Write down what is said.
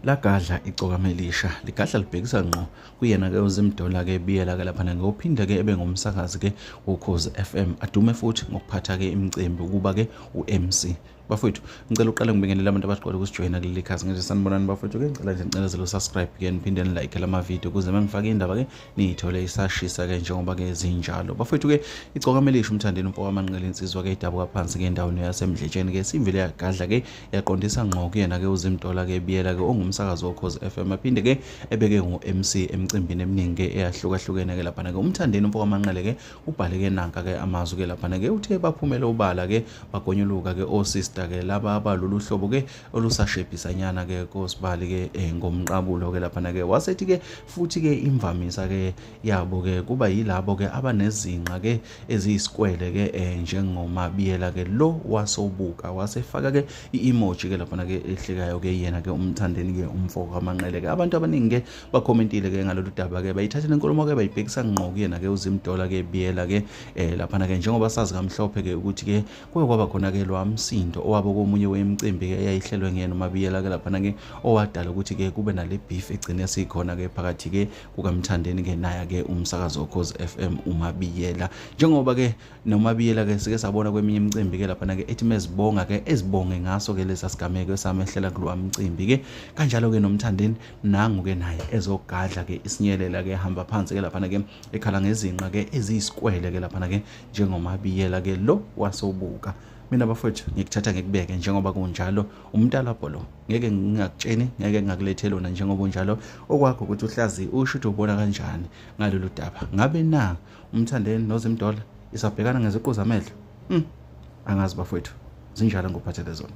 lagadla icokama elisha ligadla libhekisa ngqo kuyena ke uzimdola ke biyela ke lapha ke uphinde ke ebe ngumsakazi ke wokhozi FM adume futhi ngokuphatha ke imicimbi ukuba ke uMC bafowethu ngicela uqale ngibingelela abantu abaqala ukusijoyina kuleli khasi ngithi sanibonani bafowethu ke ngicela nje ngicela zelo subscribe ke niphinde nilike lama video ukuze mangifake indaba ke niyithole isashisa ke njengoba ke zinjalo bafethu ke icokame lisho umthandeni umfo wamanqele insizwa ke idabuka phansi ke endaweni yasemdletsheni ke simvile yagadla ke yaqondisa ngqo kuyena ke uzimtola ke biyela ke ongumsakazi wokhozi FM aphinde ke ebeke ngo-MC emcimbini eminingi ke eyahlukahlukene ke laphana ke umthandeni umfo wamanqele ke ubhale ke nanka ke amazwi ke laphana ke uthe baphumele ubala ke bagonyuluka ke osister ke laba abalolu hlobo ke olusashebhisanyana ke kosibali ke eh, ngomqabulo ke laphana ke wasethi ke futhi ke imvamisa ke yabo ke kuba yilabo ke abanezinqa ke eziyisikwele ke eh, njengomabiyela ke lo wasobuka wasefaka ke i-emoji ke laphana ke ehlekayo ke yena ke umthandeni ke umfoko kamanqele ke abantu abaningi ke bakhomentile ke ngalolu daba ke bayithathele inkulumo ke bayibhekisa ngqo kuyena ke uzimdola ke biyela ke eh, laphana ke njengoba sazi kamhlophe ke ukuthi ke kuye kwaba khona-ke lo msindo owabo komunye wemicimbi-ke eyayihlelwe nguyena umabiyela-ke laphana-ke owadala ukuthi-ke kube nale beef egcine sikhona-ke phakathi-ke kukamthandeni-ke naye-ke umsakazi okhozi f m umabiyela njengoba-ke nomabiyela-ke sike sabona kweminye imicimbi-ke laphana-ke ethi mezibonga-ke ezibonge ngaso-ke lesa sigameko esamehlela kulowa mcimbi-ke kanjalo-ke nomthandeni nangu-ke naye ezogadla-ke isinyelela-ke hamba phansi-ke laphana-ke ekhala ngezinqa-ke eziyisikwele-ke laphana-ke njengomabiyela-ke lo wasobuka mina bafowethu ngikuthatha ngikubeke njengoba kunjalo umntalabho lo ngeke ngingakutsheni ngeke ngakulethe lona njengoba unjalo okwakho ukuthi uhlazi usho ukuthi ubona kanjani ngalolu daba ngabe na umthandeni nozimdola isabhekana ngeziqu zamehlo hmm. angazi bafowethu zinjalo ngophathele zona